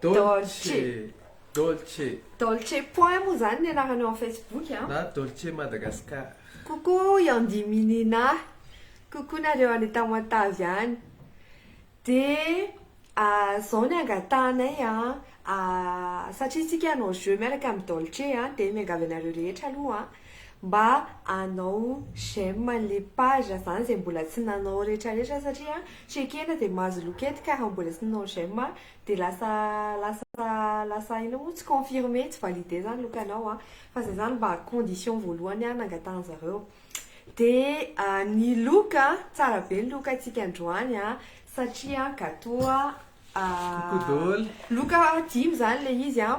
Dolce. Dolce. Dolce point moa zany ny anarany eo Facebook a. Na Dolce Madagascar. Coucou Yandi Minina. Coucou nareo any Tamatave any. De ah, zao ny angatahanay a, ah, satria tsika hanao jeu miaraka amin'ny Dolce a, de miangavy anareo rehetra aloha mba hanao j'aime an'le page zany zay mbola tsy nanao retraretra satria checker de mahazo loket ka raha mbola tsy nanao j'aime Dia lasa lasa lasa inona moa tsy confirmé tsy validé zany lokanao a! Fa zay zany mba condition voalohany a nangatahan zareo. Dia ny loka a, tsara be ny loka antsika androany a, satria gateau a, loka dimy zany le izy a,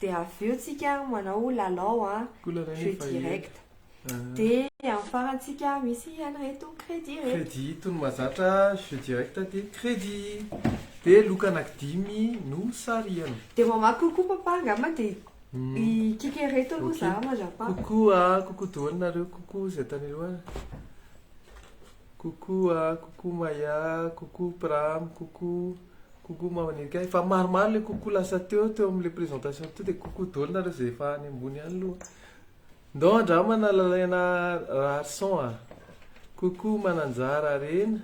dia avy eo tsika manao lalao a jeu direct dia amin'ny farany tsika misy an'ireto crédit ireto crédit itony mazatra jeu direct dia crédit dia loka anaky dimy no sarihana dia mamaky coucou papa angamba dia hikika ireto aloha za mandrapaha coucou a coucou doany nareo coucou zay tany aloha coucou a coucou maya coucou pram coucou Coucou maman Eka, efa maromaro le coucou lasa teo teo amle présentation teo de coucou dol nareo ze efa any ambony any loha. Ndao andramana Lalaina Raharison a. Coucou Mananjara Arena.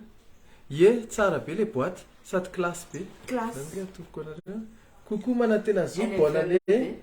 Ye, tsara be le boite sady classe be. Classe. Zany nge atolotro anareo. Coucou Manantenazoa, bonne année.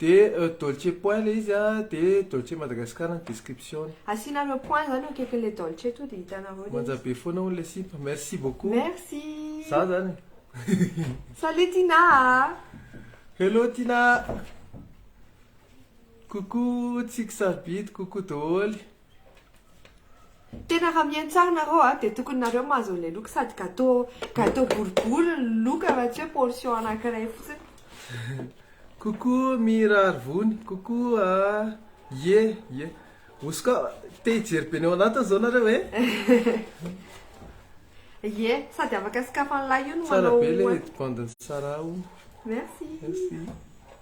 De Dolce point le izy an, de Dolce Madagascar ny description-ny. Asianareo point zany eo akaikin'ilay Dolce to dia hitanareo ilay izy. Manja be foana hono ilay sipa. Merci beaucoup. Merci. Za zany e. Salut Tina a. Hello Tina. Coucou tsiky sarobidy, coucou doholy. Tena raha miantsaha nareo a, dia tokony nareo mahazo an'ilay loka sady gateau gateau boribory ny loka fa tsy hoe portion anankiray fotsiny. Coucou Mira Arivony, coucou a ie ie, hosoka, te hijery be ny ao anatiny zao nareo e. Ie, sady afaka sokafan'ilay io no manao. Tsara be le edy bandin'i Sarah o. Merci. Merci.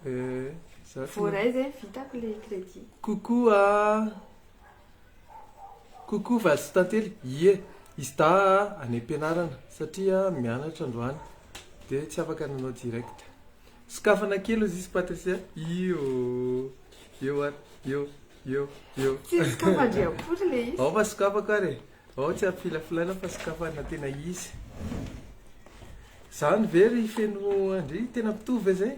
Eh, za tsy. Voaray zay vitako le crédit. Coucou a. Coucou Valsy Tantely. Ie, izy dahy a any am-pianarana satria mianatra androany dia tsy afaka nanao direct. Sokafana kely ozy izy Patricia. Io. Io ary. Io. Io. Io. Tsy sokafan-dry akory le izy. Ao fa sokafako ary e. Ao tsy ampifilafilaina fa sokafana tena izy. Zany ve ry feno andry tena mpitovo ve zay?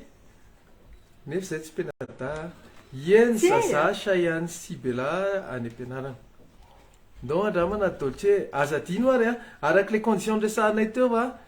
Nefa zay tsy penada. Yen zaza Shayan sy Bella any ampianarana. Ndao andramana Dolce, aza adino ary a, araka le condition noresahanay teo a,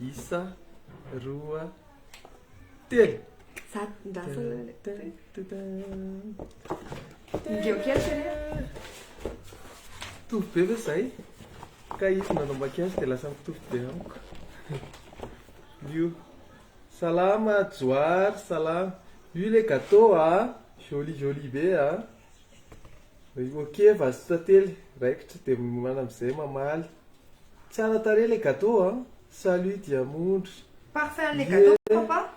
Isa, roa, telo! Mitovy be ve zay? Ka izy nanao maquillage dia lasa mitovy be amiko. Io. Salama Johary, salama. Io ilay gâteau a, jolie jolie be a. Ok vazo tantely, raikitra dia miomana amin'izay mamaly. Tsara tarehy ilay gateau a! Salut Diamondry. Parfum an'ilay gateau papa?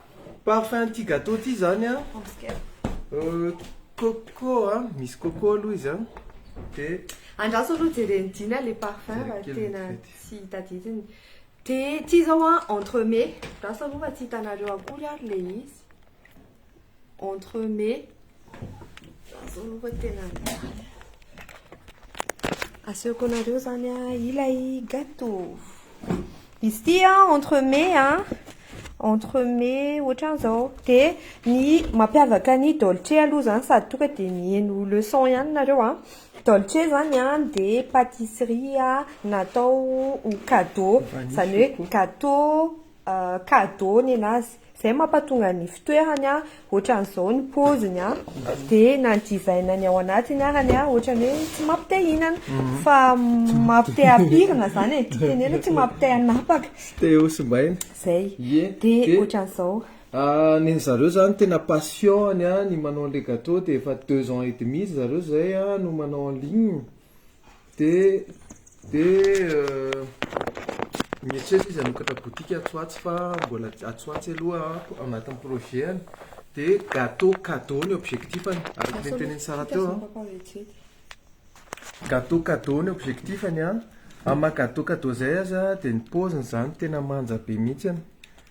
Parfum an'ity gateau ity izany a, coco a, misy coco aloha izy a, dia. Andraso aloha jeren'i Dina ilay parfum raha tena tsy tadidiny. Dia ity izao a, entre mes, andraso aloha fa tsy hitanareo akory ary ilay izy. entre mes zao aloha tena asehoko anareo zany a ilay gâteau izy ty a entre mes a entre mes ohatran'izao de ny mampiavaka ny dolce aloha zany sady toka de miheno leçon ihany nareo a dolce zany a de pâtisserie natao ho cadeau zany hoe gâteau cadeau nenazy zay mampatonga ny fitoerany an ohatran'izao ny poziny an dia na ny divine ny ao anatiny arany an ohatran'ny hoe tsy mampite hinana fa mampite hampirina zany e tsy tenenina tsy mampite hanapaka tsy te ho simbaina zay ie dia ohatran'izao ny zareo zany tena passion-ny an ny manao an'ilay gateau dia efa deux ans et demi ry zareo zay an no manao en ligne Dia dia mieritreritra izy hanokatra boutique atsy ho atsy fa mbola atsy ho atsy aloha anatin'ny projet-ny. Dia gâteau cadeau ny objectif-ny, araka ny notenenin'i Sarah teo an. Gâteau cadeau ny objectif-ny an. Amin'ny maha gâteau cadeau izay aza dia ny paoziny izany tena manja be mihitsy.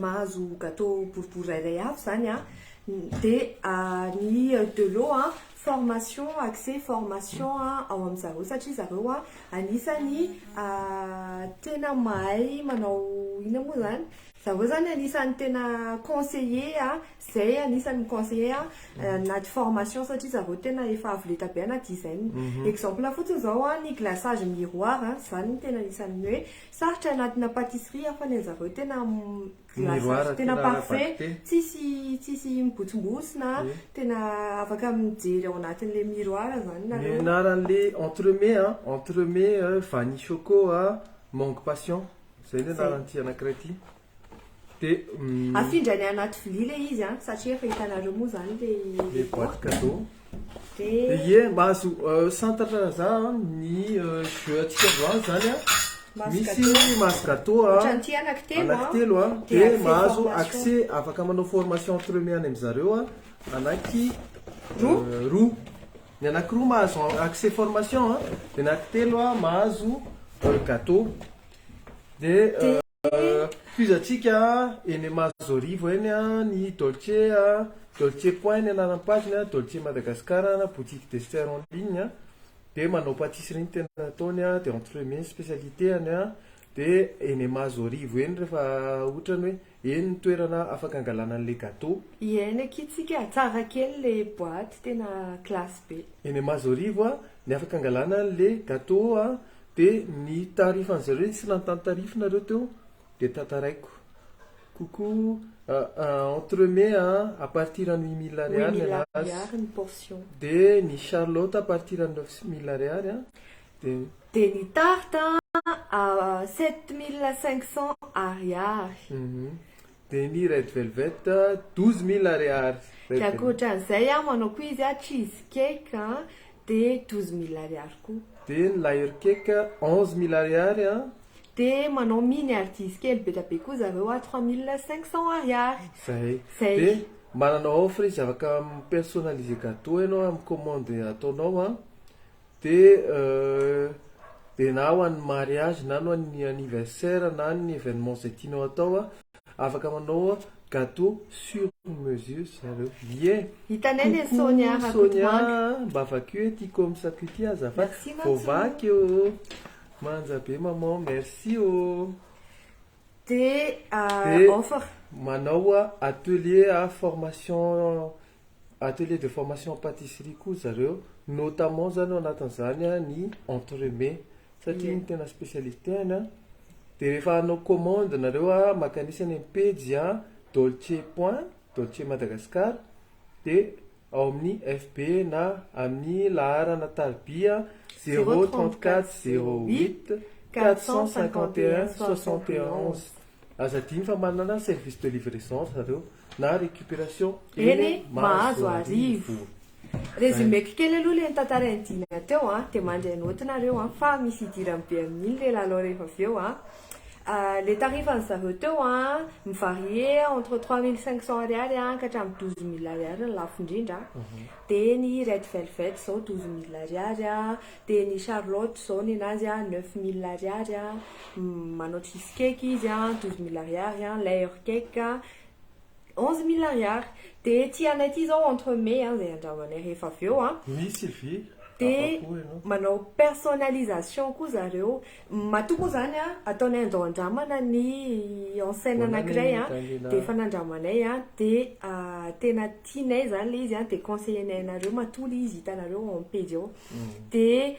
mahazo gateau boribory rairay avy zany a dia ny delo a formation accès formation a ao amin'ny zareo satria zareo a anisany tena mahay manao inona moa zany zareo zany anisany tena conseillé a zay anisany mi-conseillé a anaty formation satria zareo tena efa avo lenta be anaty design exemple fotsiny zao a ny glaçage miroir a zany no tena anisany hoe Sarotra anatina patisserie aho fa ny anzareo tena glaçage tena parfait tsisy tsisy mibotsimbosina a, tena afaka mijery ao anatin'ilay miroir zany nareo. Ny anaran'le entremets a, entremets vanille choco a, mangue passion, zay ny anaran'ity anankiray ity. Afindra any anaty vilia ilay izy an, satria efa hitanareo moa izany ilay boite cadeau. Dia ie mba azo santatra za ny jeux antsika androany izany an, misy masse gateau anankitelo an, dia mahazo accès afaka manao formation entre eux miany amin'ny zareo an, ananky roa, ny ananky roa mahazo accès formation an, ny ananky telo an mahazo gateau. Tohizantsika eny Mazorivo eny ny Dolce, Dolce Point ny anaran'ny page ny Dolce Madagascar na boutique dessert en ligne dia manao patisserie ny tena ataony dia entremets ny spécialités-any dia eny Mazorivo eny rehefa ohatran'ny hoe eny ny toerana afaka hangalana an'ilay gateau. Hihaino akia tsika a! Tsara kely le boite tena classe be. Eny Mazorivo ny afaka hangalana an'ilay gateau Dia ny tarifan-dry zareo iny tsy lany tany tarifina ireo teo dia tantaraiko. Coucou, entre mai a, à partir an'ny huit mille ariary ny anazy. Huit mille ariary ny portion. Dia ny charlotte à partir an'ny neuf mille ariary a, dia. Dia ny tarte a, à sept mille cinq cents ariary. Demi red velvet douze mille ariary. Dia ankoatran'izay aho manao koa izy a cheese cake a dia douze mille ariary koa. Dia ny layer cake onze mille ariary a. Dia manao mini ary dizy kely be dia be koa zareo a trois mille cinq cents ariary. Zay. Zay. Dia manana offre izy afaka mi-personaliser gateau ianao amin'ny commande ataonao a. De de na ho an'ny mariage na ho an'ny anniversaire na ny événement zay tianao atao afaka manao gateau sur mesure ry zareo ie. Hitanay le Sonia Rakotomanga. Coucou Sonia a, mba vakio e ty comsako ity azafady. Merci Mantso. Voavaky ô. Manja be maman, merci ô. Dia De offre. manao atelier formation Atelier de formation en patisserie koa zareo notamment zany ao anatin'izany ny entremets satria iny tena spécialité-ny an, dia rehefa hanao commande nareo an, maka an'isa eny amin'ny pejy an, dolce point dolce madagascar dia ao amin'ny FB na amin'ny laharana tarobia zéro trente quatre zéro huit quatre cent cinquante et un soixante et onze. Aza adino fa manana service de livraison ry zareo na récupération eny Mahazoarivo. Résumeko kely aloha le notantarain'i Dina teo an, dia mandry an'ôty nareo an, fa misy hidirany be amin'iny le lalao rehefa avy eo an. Le tarifan'ny zareo teo an, mi-varier entre trois mille cinq cents ariary an ka hatramin'ny douze mille ariary ny lafo indrindra an. Dia ny Red Velvet izao douze mille ariary an. Dia ny Charlotte zao ninazy a neuf mille ariary a, manao cheese cake izy a douze mille ariary a, layer cake a onze mille ariary. Dia ity anay ity zao entre mets a zay andrahoanay rehefa avy eo a. Misy vy afa-po ianao. Dia manao personnalisation koa zareo. Matoa moa zany a ataonay andao andramana ny enseigne anankiray a dia efa nandramanay a dia tena tianay zany le izy a dia conseiller-nay anareo matoa le izy hitanareo eo am-pejy eo. dia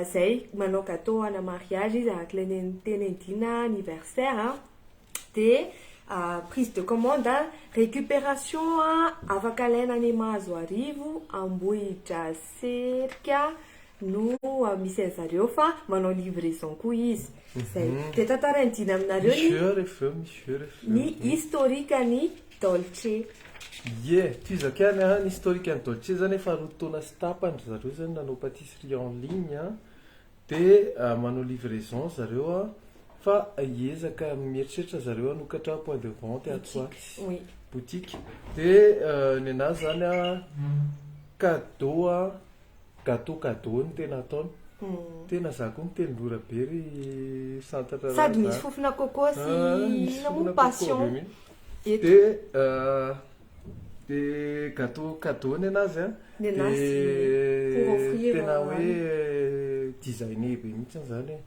izay manao gateau ana mariage izy araka ilay nentinendina anniversaire an, dia prise de commande, récupération afaka alaina any Mahazoarivo, Ambohidraserika no misy an'i zareo fa manao livraison koa izy. Izay. Dia tantarainy dina aminareo ny, Misy heure avy eo, misy heure avy eo. ny historique ny. Dolce. Ie, tohizako ihany an, ny historique an'i Dolce zany efa roa taona sy tapany ry zareo zany nanao patisserie en ligne an, dia manao livraison ry zareo an, fa hiezaka mieritreritra zareo hanokatra point de vente atsy ho atsy, boutique, dia ny an'ahy zany an cadeau an, Gateau cadeau no tena ataony. Tena za koa miteny mora be ry santatra raha za. Sady misy fofona coco sy inona moa passion. Dia dia gateau cadeau ny anazy an. Ny anazy pour offrir. Dia tena hoe designer be mihitsy izany e.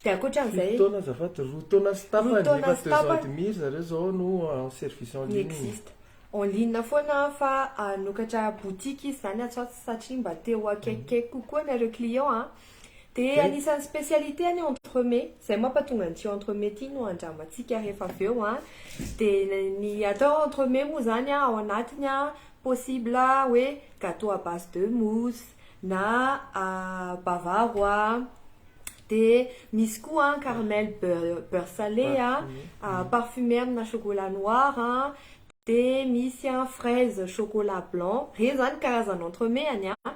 Dia ankoatran'izay. Fito taona azafady, roa taona sy tapany. Roa taona sy tapany. Efa deux ans et demi ry zareo izao no en service en ligne. Ny existe. En ligne foana an fa hanokatra boutique izy zany atsy ho atsy satria mba te ho akaikikaiky kokoa nareo clients an. De anisan'ny specialité ny entremets, zay mampatonga an'ity entremets ity no andramantsika rehefa avy eo an. De ny atao entremets moa zany an ao anatiny an possible hoe gateau à base de mousse na bavarois. Dia misy koa an, caramel beurre beurre salé an, parfumé amina chocolat noir an, dia misy an fraise chocolat blanc, ireny izany karazana entremets-ny an,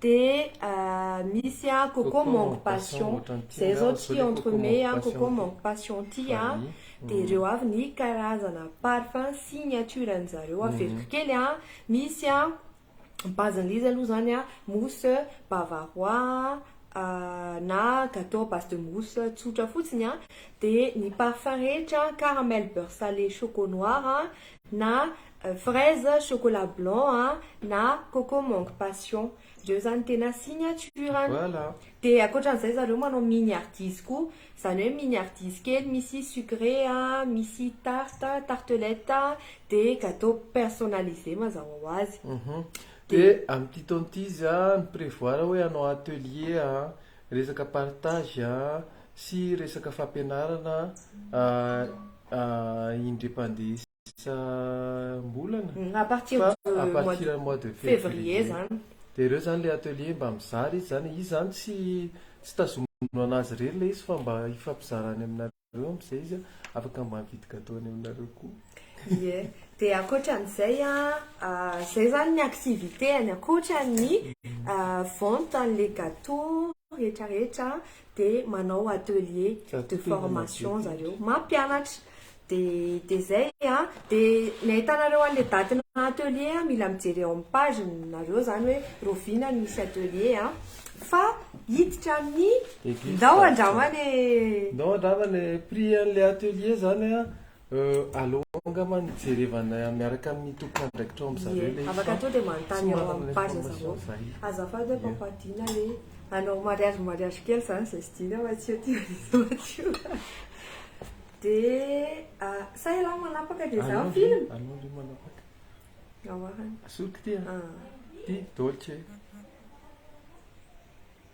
dia misy an coco mangue passion, izay izao ity entremets an coco mangue passion ity an, dia ireo avy ny karazana parfum signature-ny zareo, averiko kely an, misy an base an'izy aloha zany a mousse bavarois a na gateau à base de mousse tsotra fotsiny a de ny parfum rehetra caramel beurre salé choco noir a na fraise chocolat blanc a na coco mangue passion reo zany tena signature-ny de ankoatran'izay zareo manao mini ardizy koa Zany hoe mini hardis kely misy sucre a, misy tarte, tartelette a, de gateau personnalise mazava ho azy. De amin'ity taona ity izy a mi-prevoir hoe hanao atelier a, resaka partage a, sy resaka fampianarana indri-pandeha sy. isam-bolana à partir fa de à mois partir de mois de février février zany dia ireo zany le atelier mba mizara izy zany izy zany tsy tsy tazomina an'azy irery le izy fa mba hifampizara any aminareo am'zay izy afaka mba mividy gateau any aminareo koa ie dia ankoatran'izay an zay zany ny activité-ny ankoatran'ny vente an'le gateau rehetra rehetra dia manao atelier de formation zareo mampianatra dia dia zay a dia ny ahitanareo an'le daty na atelier a mila mijery eo amin'ny page nareo zany hoe rovina ny misy atelier a fa hiditra amin'ny ndao andrama le ndao andrama le prix an'le atelier zany a Euh, aleo angamba ny jerevana miaraka amin'ny tompon'andraikitra ao amin'izareo ilay izy Afaka tonga dia manontany ao amin'ny page zareo. Azafady aho mpampadiana hoe hanao mariage mariage kely izany izay tsy dino aho atsio aty atsio. Dia ah, sa ialahy manapaka dia izaho Aleo film? ry- aleo ry manapaka Ahoana? Asoko ty a Ah. Ty dolce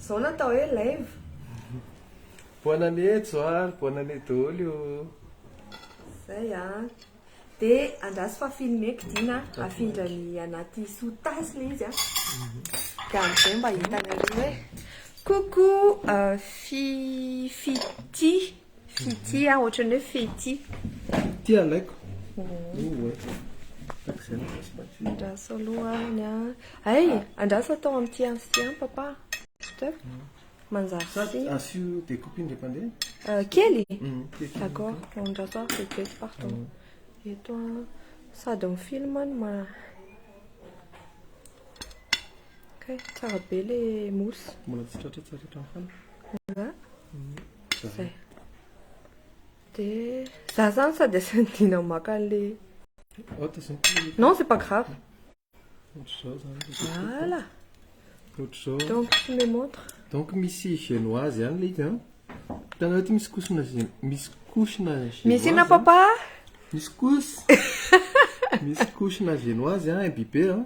Zao no atao hoe rêve. Bonne année Johary, bonne année doly o. Zay a. De andraso fa filmeko Dina a, afindra ny anaty sous-tasse le izy a. De amzay mba hitanareo hoe coucou Fiffi Tia. Fity aho, ohatran'ny hoe fety. Fity alaiko. Andraso aloha any a. Ay, andraso atao amin'ity antsy an papa. Stop. Manjary Sa sy. asio découpe indray pandeha? Euh, kely Mm, kely. D'accord, andraso aho vetivety pardon. Eto a, sady ny film no ma... Kay, tsara be le mousse. Mbola tsy tratra tsara hatramin'ny fana. Nga. Zay. Dia za zany sady asiana dina maka an'le Non, c'est pas grave. Voilà. Donc tu me montres. Donc misy génoise ihany le izy an. Hitanao ity misy kosina misy kosina génoise. Misy inona papa? Misy kos. Misy kosina génoise an imbibé an.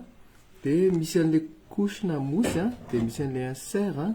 Dia misy an'le kosina mousse an, dia misy an'le insert an.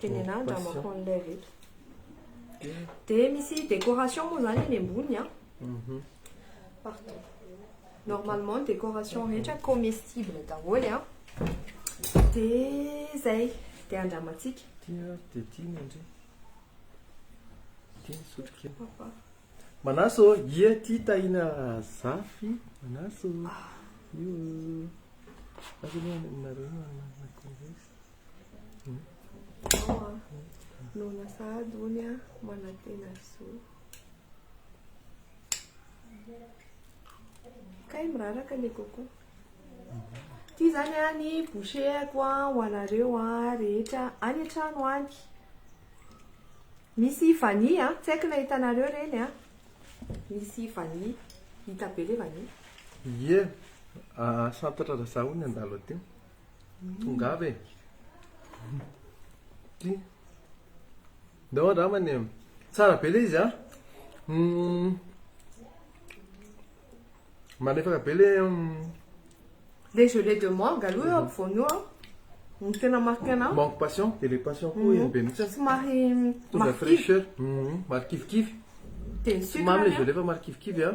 Tenenà an-dRamakoa an'ilay avy eto. Dia misy décoration moa izany eny ambony an. Mhm. Pardon. Normalement ny décoration rehetra comestible daholo an. Dia izay. Dia andramantsika. Tia, dia tia ny andre. Tia ny sotrokely. Papa. Manaso, ie tia tahina zafy. Manaso. Io. Aza aloha ny nareo no anakon-dresy. Nona sahady hono a manantena zo. Kay miraraka le koko. Ty zany a ny boucheko a ho anareo a rehetra any an-trano any. Misy vanille a, tsy haiko na hitanareo reny a. Misy vanille, hita be le vanille. Ie, santatra razaho hono ny andalo aty. Tongava e. Ty. Ndao andramany e. Tsara be le izy a. Mm. Malefaka be le mm, Le gelée de mangue aloha eo ampovoany eo an. Ny tena marqué anao. manque passion, dia le passion koa izy be mihitsy. Somary Tonga marqué. fraîcheur. Mhm, Marikivikivy. Dia ny sucre Mamy le anie. gelée fa marikivikivy a.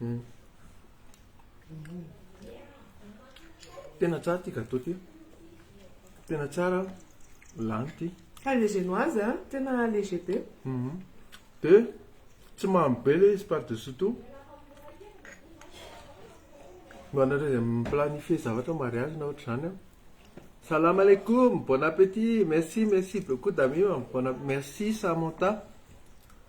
Hmm. Tena tsara ity gâteau ity. Tena tsara lany ity. Ka le génoise hein, tena léger be. Mhm. De tsy mamy be le izy par dessus tout. Mba anareo izay mi-planifier zavatra mariage na ohatr'izany an. Salam alaikum, bon appétit, merci, merci beaucoup Damima, bon app- merci Samantha.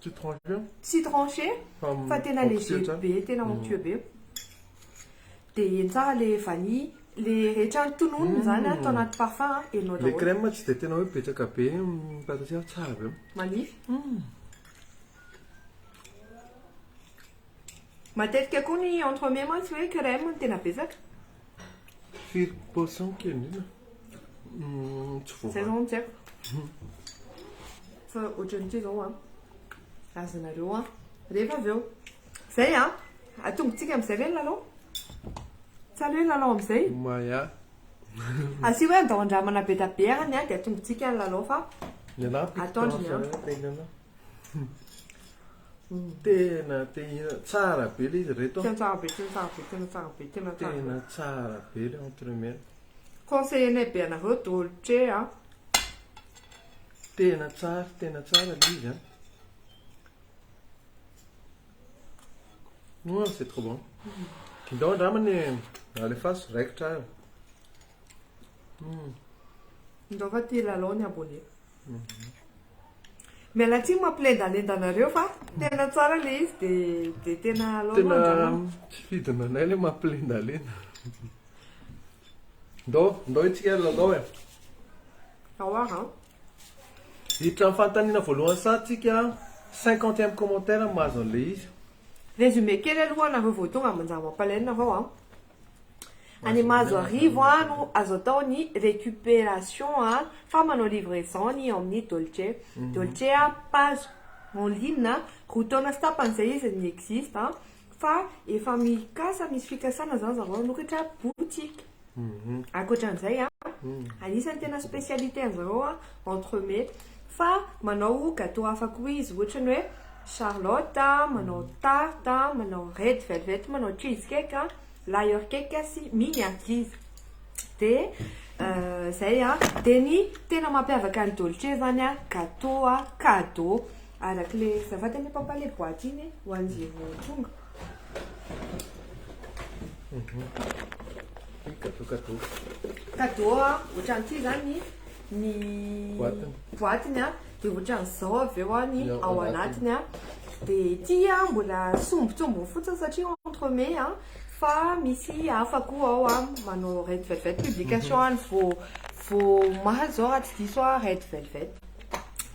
Tsy tranché? Tsy tranché fa tena léger be, tena mhm. onctueux be. Dia heno tsara le vanille, le rehetra ny tononony mhm. zany atao anaty parfum, henonao daholo. Le crème tsy dia tena hoe betsaka be ny pâtissière, tsara be. Manify. Mhm. Matetika koa ny entremets mantsy hoe crème no tena betsaka. Firy paosy amiko io indrindra? Hmm, tsy voavaha. Zay zao tsy haiko. Hmm. Fa ohatran'ity zao an. Ah. Azonareo an. Ah. Rehefa avy eo. Zay an. Ah. Atongotsika amizay ve ny lalao? Tsy aleo ny lalao amizay? Maya. Asi hoe andao andramana be da be any an dia atongotsika ny lalao fa. Ny anahy piky tena. Tena te hihinana, tsara be le izy reto an. Tena tsara be, tena tsara be, tena tsara be, tena tsara be. Tena tsara be le entremets. Conseiller-nay be anareo dolce a. Tena tsara, tena tsara le izy an. Hum, c'est trop bon. Ndao andrama ny alefaso, raikitra ary. Hum. Ndao fa te hilalao ny abonné. Miala tsiny mampilendalenda anareo fa tena tsara le izy de de tena alao aloha andramo. Tena tsy fidiny anay le mampilendalenda. Ndao ndao itsika hilalao e. Ao ary an. Hiditra amin'ny fanontaniana voalohany saha tsika cinquantième commentaire no mahazo an'le izy. Résumé kely aloha anareo vao tonga manjary mampalahelo nareo an. Any Mahazo Arivo an no azo atao ny récupération an fa manao livraison ny ao amin'ny Dolce Dolce an page en ligne an roa taona sy tapany zay izy ny existe an fa efa mikasa misy fikasana zany zareo hanokatra boutique ankoatran'izay an anisan'ny tena spécialité an'zareo an entremets, fa manao gateau hafa koa izy ohatra ny hoe charlotte, manao tarte, manao red velvet, manao cheese cake, layer cake sy mini ankizy. Dia izay a, dia ny tena mampiavaka an'i Dolce zany a, gateau a, cadeau, araka le, azafady anie papa le boaty iny ho an'izay vao tonga. Cadeau cadeau. Cadeau a, ohatran'ity zany. ny boatiny a dia ohatran'izao avy eo a ny ao anatiny a dia ity a mbola sombintsombiny fotsiny satria entre mai a fa misy hafa koa ao a manao red velvet publication any vao vao omaly izao raha tsy diso aho red velvet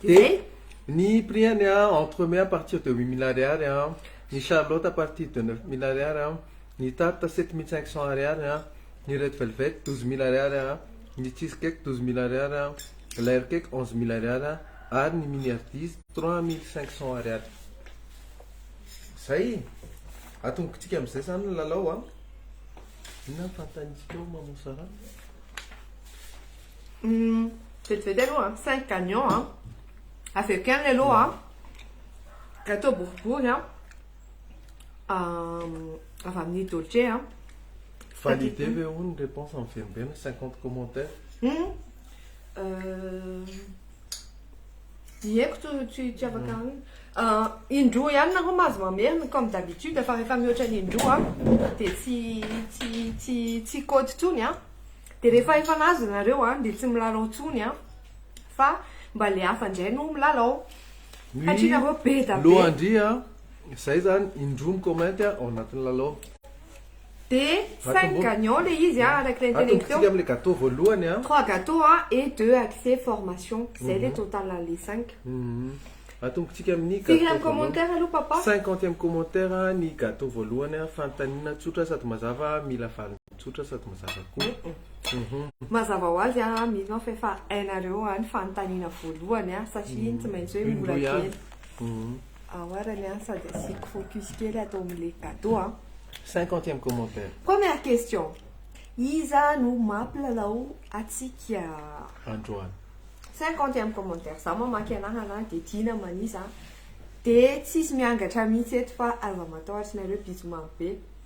dia ny prix-any a entre mai à partir de huit mille ariary a ny charlotte à partir de neuf mille ariary a Ny tarte sept mille cinq cents ariary an, ny red velvet douze mille ariary an, ny cheese cake douze mille ariary an, layer cake onze mille ariary an, ary ny mini hardis trois mille cinq cents ariary. Zay! Atombokitsika amin'izay zany ny lalao an! Inona ny fanontaniantsika eo Maman Sarah? Hum, vetivety aloha an, cinq gagnants an, avy eo kely aloha an, gateau boribory an, avy amin'ny Dolce a. Validé ve hono ny réponse amin'ny Venombeno 50 commentaires? Hum, ny heko tsy tsy tsy afaka mm. ah, indroa ihany nareo mahazo mamerina comme d'habitude fa rehefa mihoatra ny indroa dia tsy tsy tsy tsy côte tsony a dia rehefa efa nazo nareo a dia tsy milalao tsony a fa mba le hafa indray no milalao Nuit lohandria zay zany indroa mi-comment ao anatin'ny lalao. De cinq gagnants le izy a araky le internet teo. Atombokintsika amle gateau voalohany a. Trois gateaux a et deux accès formation zay le total anle cinq. Atombokintsika amin'ny gateau voalohany. Firy amin'ny commentaire aloha papa? Cinquantième commentaire ny gateau voalohany a fanontaniana tsotra sady mazava mila vaniny. Tsotra sady mazava koa. Mazava ho azy aho mino aho fa efa hainareo an ny fanontaniana voalohany an satria iny tsy maintsy hoe mora kely ao arany an sady asiako focus kely ato amin'ilay gateau an. Cinquantième commentaire. Première question, iza no mampilalao antsika androany? Cinquantième commentaire, za mamaky anarana dia tiana manisa dia tsisy miangatra mihitsy eto fa aza matahotra nareo bisous mamy be.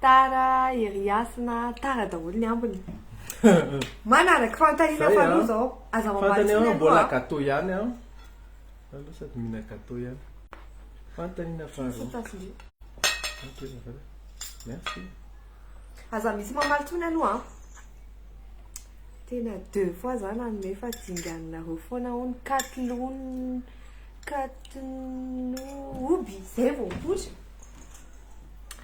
Tara ery hasina tara daholo ny ambiny. Manaraka fanontaniana faharoa zao. Aza mamaly tsony aloha a. Fantany aho mbola gateau ihany aho. Za aloha sady mihina gateau ihany. Fanontaniana faharoa. Merci. Aza misy mamaly tsony aloha a. Tena deux fois za nanome fa dinganinareo foana hono katlon katnoby zay vao mipoitra.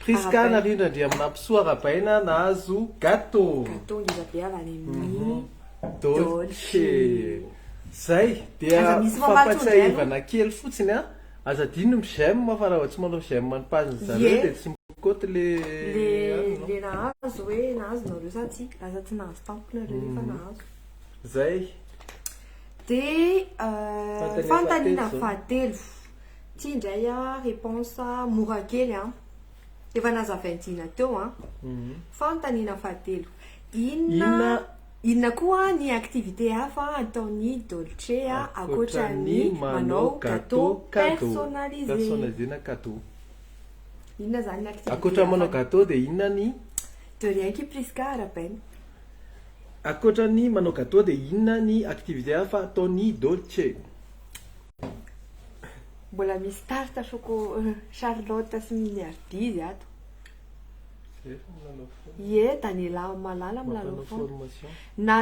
Prisca Narindra Andriaminampisoa Rabaina nahazo gateau. Gateau ngeza be avy any amin'ny Dolce. Zay, dia fampatsiahivana kely fotsiny an, aza adino ny j'aime fa raha vao tsy manao j'aime ny page n'ny zareo dia tsy mikaoty le le nahazo hoe nahazo nareo sa tsia, lasa tsy nahazo tampoka nareo nefa nahazo. Zay. Dia fanontaniana fahatelo. Ty ndray a reponsa mora kely an, efa nazavain-dina teo an. Fanontaniana fahatelo, inona inona koa ny activité hafa ataon'i Dolce a ankoatra ny manao gateau personnalisé? Personnalisé na cadeau. Inona zany ny activité hafa? Ankoatra ny manao gateau dia inona ny? De rien ki Prisca arabaina. Ankoatra ny manao gateau dia inona ny activité hafa ataon'i Dolce? Mbola misy tarte choco Charlotte sy ny miardizy ato. Ie Daniela Malala milalao foana. Na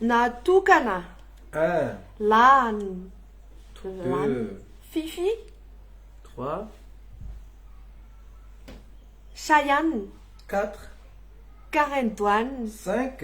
natokana lan lan Fifi trois Chayane quatre Karen Doane cinq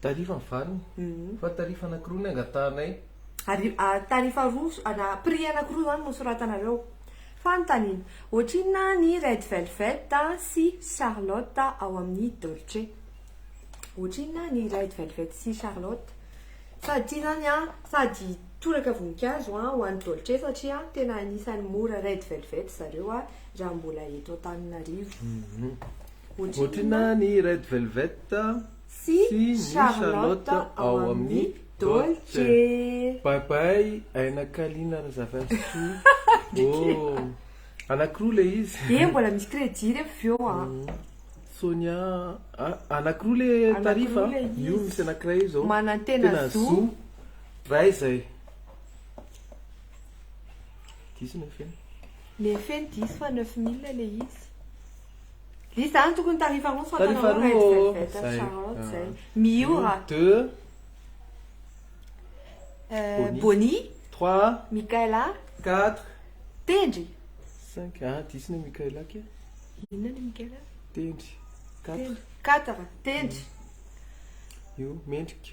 Tarifa ny farany. Fa tarifa anakiroa ny angatahanay. Ary tarifa roa ana prix anakiroa zany no soratanareo. Fanontaniana, ohatrinona ny red velvet sy charlotte ao amin'ny dolce? Ohatrinona ny red velvet sy charlotte? Sady ity zany an, sady toraka voninkazo an ho an'ny dolce satria tena anisan'ny mora red velvet zareo an raha mbola eto Antananarivo. Ohatrinona ny red velvet? Tsy ny Charlotte ao amin'ny Dolce. Bye bye Aina Kalina Razafinsoa oh. Anakiroa ilay izy. Dia mbola misy crédit re avy eo an. Sonia ah, anakiroa le tarif a, io misy anakiray io zao, tena zo, ray izay, diso ny feny, ny feny diso fa neuf mille le izy. Izany tokony tarifa roa fa Tarifa roa ô! Zay. Miora. Deux. Boni. Trois. Mikaela. Quatre. Tendry. Cinq. Ah, diso ny Mikaela ke. Inona ny Mikaela? Tendry. Quatre. Quatre. Tendry. Io, mendrika.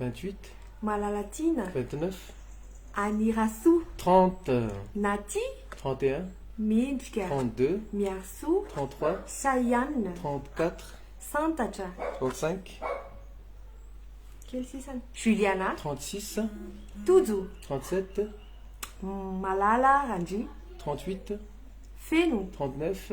28, Malalatiana, vingt-neuf, Anirasoa, trente, Naty, trente et un, Mendrika, trente-deux, Miarisoa, trente-trois, Saianina, trente-quatre, Santatra, trente-cinq, Kely sisany, Juliana, trente-six, Tojo, trente-sept, Malala, Randria, trente-huit, Feno, trente-neuf,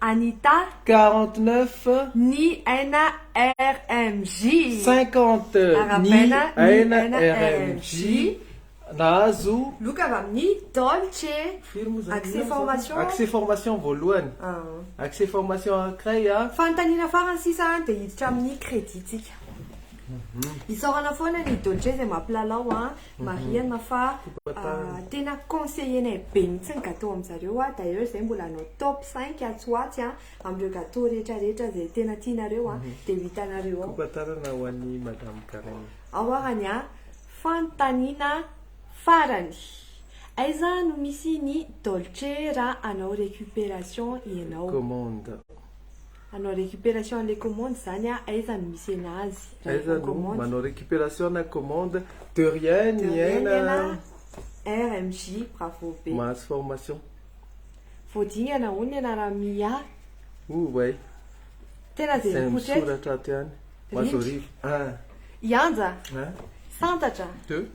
Anita. Quarante neuf. Ny aina rmj. Cinquante. Ny aina rmj nahazo. Loka avy amin'ny Dolce. Firy moa izany? Accès formation. Accès formation voalohany. Accès formation anankiray a. Fanontaniana farany sisa a dia hiditra amin'ny credit-tsika. Isaorana foana ny Dolce izay mampilalao a. Marihana fa tena conseiller-nay be mihitsy ny gâteau amin-jareo. D'ailleurs, izahay mbola hanao top 5 atsy ho atsy amin'ireo gâteau rehetrarehetra izay tena tianareo dia ho hitanareo ao. Fampatarana ho an'i Madame Karen. Ao ary ny fanontaniana farany. Aiza no misy ny Dolce raha hanao récupération ianao? Commande. Hanao récupération an'ilay commande zany aho, aiza no misy enazy raha efa Aiza no commande? manao récupération na commande? De rien De rien Niaina Niaina a! RMJ, bravo be. Mahazo formation. Vao dingana hono ny anaran'i Mia. Oay. Tena dia Izay mipoitra eto. misoratra ato ihany. Ho azy Rindra. hariva. Ah! I Anja, Ah! santatra. Deux.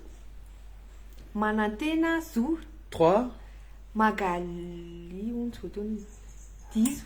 Manantena, zo. Trois. Magalie, hono tsy voatonona. Diso.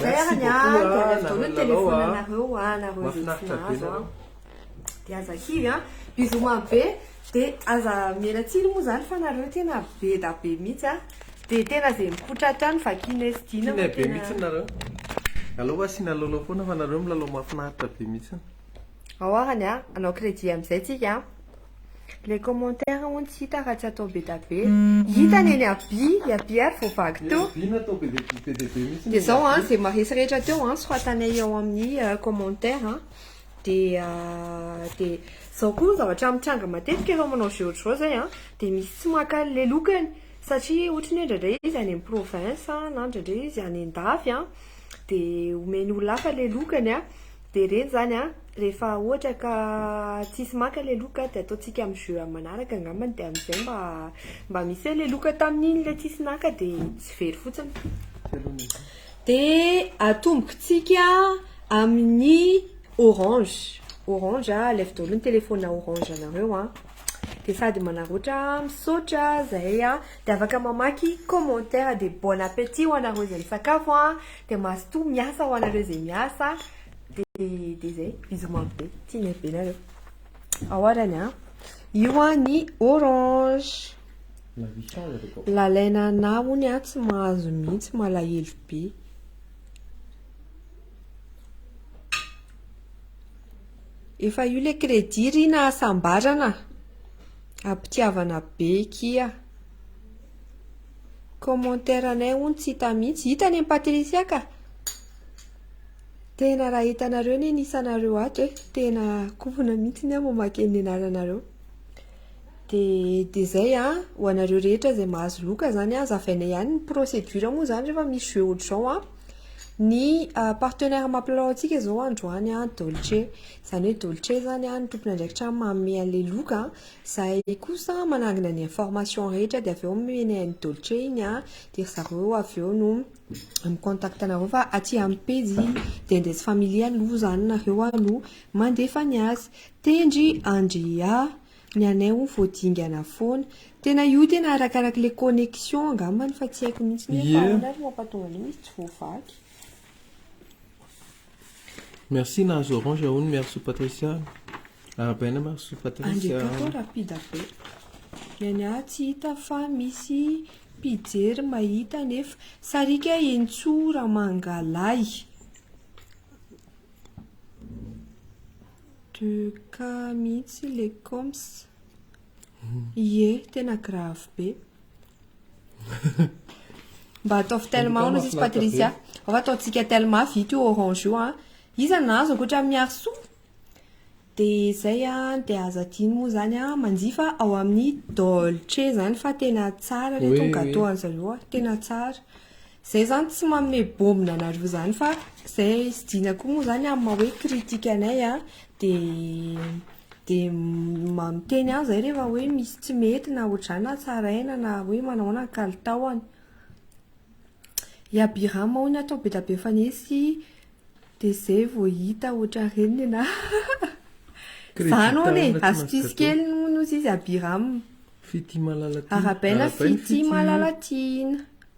Zay ara ny ahy dia avy avy daholo ny telefonanareo anareo izay tsy nahazo an. Dia aza kivy an. Bisous mamy be. Dia aza miela tsiny moa izany fa nareo tena beda be mihitsy an. Dia tena izay mikotra ato ihany vakiana sy dina. Kinay be mihitsy nareo. Aleo hoe asiana lalao foana fa nareo milalao mahafinaritra be mihitsy. Ao ara ny ahy. Hanao crédit amin'izay tsika an. Ilay commentaire hono tsy hita raha tsy atao be da be. Hita ny an'i Aby, i Aby ary vao vaky teo. Aby natao be dia be dia be mihitsy ny an'i Aby. Dia izao an, izay maharesy rehetra teo an, soratanay ao amin'ny commentaire an. Dia dia izao koa ny zavatra mitranga matetika rehefa manao jeux ohatr'izao izay an, dia misy tsy maka an'ilay lokany satria ohatra ny hoe indraindray izy any amin'ny province na indraindray izy any an-dafy an, dia omen'ny olona hafa ilay lokany an. Dia ireny izany an, rehefa ohatra ka tsisy maka ilay loka dia ataontsika amin'ny jeu amin'ny manaraka angambany dia amin'izay mba mba misy hoe ilay loka tamin'iny ilay tsisy naka dia tsy very fotsiny. Dia atombontsika amin'ny orange, orange alefa daholo ny téléphone orange anareo an. Dia sady manarotra a, misaotra a, zahay a, dia afaka mamaky commentaire, dia bon appétit ho anareo izay misakafo a, dia mazotoa miasa ho anareo izay miasa, dia dia zay, bisous mamy be, tia ny be nareo, ao arany a, io a ny orange, lalaina anah ony a, tsy mahazo mihitsy, malahelo be. Efa io le crédit ry nahasambarana Ampitiavana be kia Commentaire anay hono tsy hita mihitsy Hita anie Patricia ka Tena raha hitanareo anie ny isanareo ato eh Tena kofona mihitsy ny ahy mamaky ny anaranareo Dia dia zay an Ho anareo rehetra izay mahazo loka zany an Azavainay ihany ny procédure moa zany rehefa misy jeux ohatr'izao an Ny partenaire mampilalao antsika izao androany a Dolce, izany hoe Dolce izany a ny tompon'andraikitra manome an'ilay loka, izay kosa manangona ny information rehetra dia avy eo omeny an'i Dolce iny a, dia ry zareo avy eo no mi-contact anareo fa aty amin'ny pejy Dendez Family aloha izany nareo no mandefa ny azy. Tendry Andria. Ny anay hono vao dingana foana. Tena io tena arakaraky le connexion angambany fa tsy haiko mihitsy hoe fa ahoana ary no mampatonga an'io izy tsy voavaky. Merci nahazo orange hono miaro soa Patricia. Arabaina miaro soa Patricia. Andry aty koa rapida be. Ny anay aty tsy hita fa misy mpijery mahita nefa. Sariaka Henintsoa Ramangalahy. De cas mihitsy le coms. Ie, tena grave be. Mba ataovy tel maona sisy Patricia. Afa ataontsika tel mafy ito io orange io an. Iza nahazo ankoatra amin'ny Miarisoa? Dia zay an, dia aza adino moa zany an, manjifa ao amin'ny Dolce zany fa tena tsara le tonga gâteau an'zareo an, tena tsara. Zay zany tsy manome bômbina anareo zany fa zay sy Dina koa moa zany amin'ny maha hoe critique anay a de de miteny ihany zay rehefa hoe misy tsy mety na ohatr'izany na tsaraina na hoe manao ahoana ny kalitaony. I Abiram hono atao be dia be mifanesy de zay vao hita ohatran'ny reniny na zany hono e, astuce kely hono ozy izy Abiram. Fitia malala tiana. Arabaina fitia malala tiana.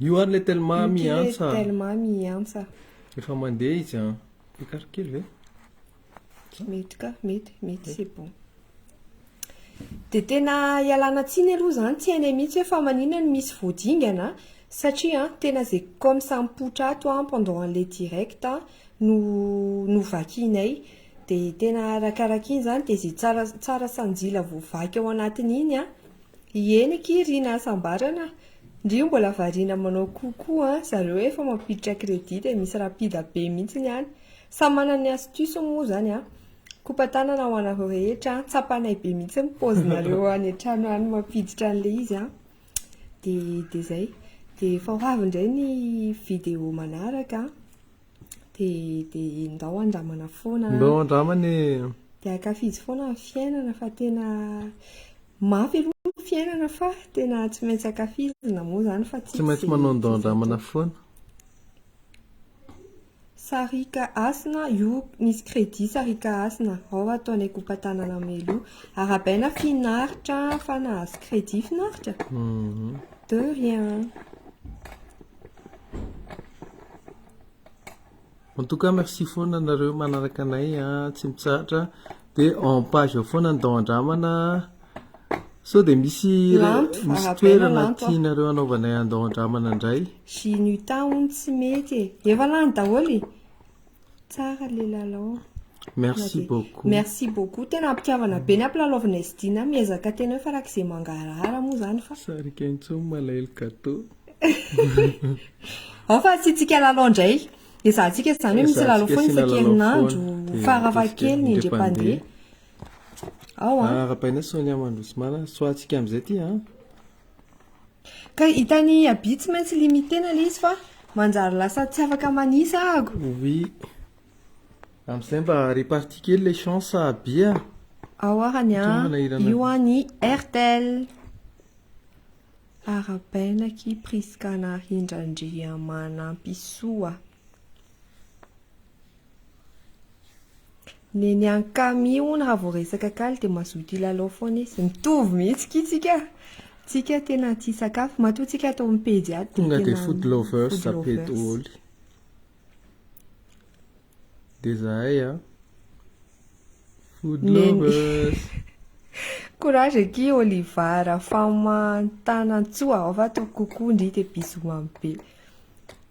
Io ary le telma miantsa. Telma miantsa. Efa mandeha izy an. Écart kely ve? Mety ka, mety, mety c'est bon. Dia tena ialana tsiny aloha izany tsy hainay mihitsy hoe fa manina no misy voadingana satria tena izay comme ça mipoitra ato pendant an'ilay direct no novakianay. Dia tena arakaraka iny izany, dia izay tsara tsara sanjila voavaky ao anatiny iny an, ieny akia ry nahasambarana, ndry io mbola variana manao coup koa an, zareo efa mampiditra crédit dia misy rapida be mihintsy ny any, samy manana ny astuce moa izany an, kopa-tanana ho anareo rehetra an, tsapanay be mihintsy ny paozinareo any an-trano any mampiditra an'ilay izy an, dia dia izay, dia efa ho avy indray ny vidéo manaraka an. dia dia ndao handramana foana an. Ndao handramana e. Dia ankafizo foana ny fiainana fa tena mafy aloha ny fiainana fa tena tsy maintsy ankafizina moa izany fa tsy maintsy manao ndao handramana foana. Sarika Hasina, io misy crédit Sarika Hasina, ao ataonay groupe Tanana Melo. Arahabaina finaritra fa nahazo crédit finaritra? De rien. En tout cas merci foana nareo manaraka anay a ah, tsy mitsahatra de en page ao foana ny dao andramana sao de misy misy toerana tianareo anaovanay andao andramana indray sy ny tahony tsy mety e efa lany daholo e Tsara le lalao. Merci beaucoup. Merci beaucoup. Tena ampitiavana be ny ampilalaovina izy ity na miezaka tena hoe farak'izay mangarahara moa zany fa. Sarika intsony malahelo gâteau. Ao fa asiantsika lalao indray. Ezahantsika izany hoe misy lalao foana isan-kerinandro farafahakeliny indrem-pandeha. Ao an. Arahabaina Sonia Mandroso Mala. Soahantsika amin'izay ity an. Ka hitan'i Aby tsy maintsy limiter-na ilay izy fa manjary lasa tsy afaka manisa ago. Oui. Amin'izay mba repartie kely ilay chance a Aby a. Ao ara ny an, io an ny Airtel. Arabaina akia Prisca Narindra Andriamanampisoa. Neny an kami hono raha vao resaka kaly dia mazoto hilalao foana izy. Mitovy mihitsy ki tsika. Tsika tena tia sakafo. Matoa tsika ato amin'ny pejy ato dia tena food lovers. Tonga dia food lovers zape doholy. Dia zahay a. Food lovers. Courage aky Oliva Rafamantanantsoa ao fa toky kokoa ndry dia bisous mamy be.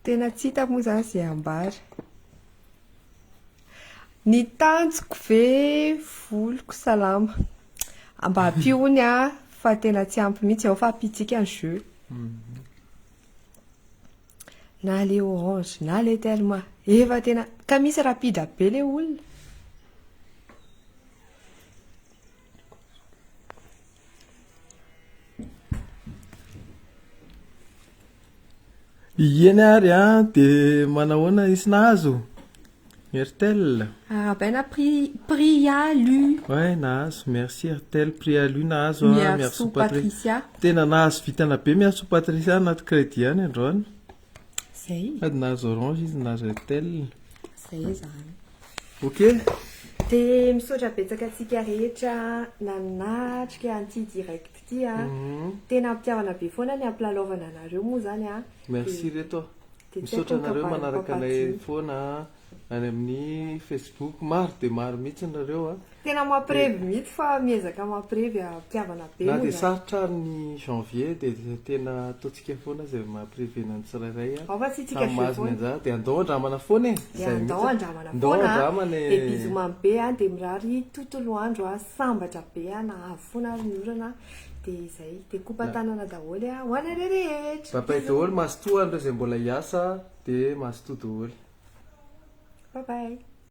Tena tsy hitako moa zany izay ambara. Ny tanjoko ve voloko salama mba ampihony a fa tena tsy ampy mihitsy ao fa ampitsika ny jeu na le orange na le telma efa tena ka misy rapide be le olona Ieny ary an, ah, dia manahoana izy nahazo Airtel Arabaina ah, pri, Prialu Ouais, nahazo, merci Airtel, Prialu nahazo ah, Merci Patricia Tena nahazo vitana be, merci Patricia, anaty crédit ihany androany Zay. Sady nahazo orange izy nahazo Airtel. Zay zany. Ok. Dia misaotra betsaka antsika rehetra nanatrika an'ity direct ity a. Mhm. Tena am-pitiavana be foana ny ampilalaovana anareo moa zany a. Merci reto a. Dia tsy Misaotra ataonka anareo manaraka anay baram-pampadiana. foana a. any amin'ny Facebook, maro dia maro mihitsy nareo a. Tena mampirevy mihitsy fa miezaka mampirevy a, mpihavana be moa zany. Na dia sarotra ary ny janvier dia tena ataontsika foana izay mampirevena ny tsirairay a. Ao fa tsy isika feo foana. Samy mahazo ny anjara dia andao andramana foana e. Dia andao andramana foana e. Dia bisous mamy be a, dia mirary tontolo andro sambatra be a, na avo foana ary ny orana a. Dia izay, dia kopa tanana daholo ho anareo rehetra. Bye bye daholo mazotoa an'ireo izay mbola hiasa dia mazotoa daholo. Bye bye.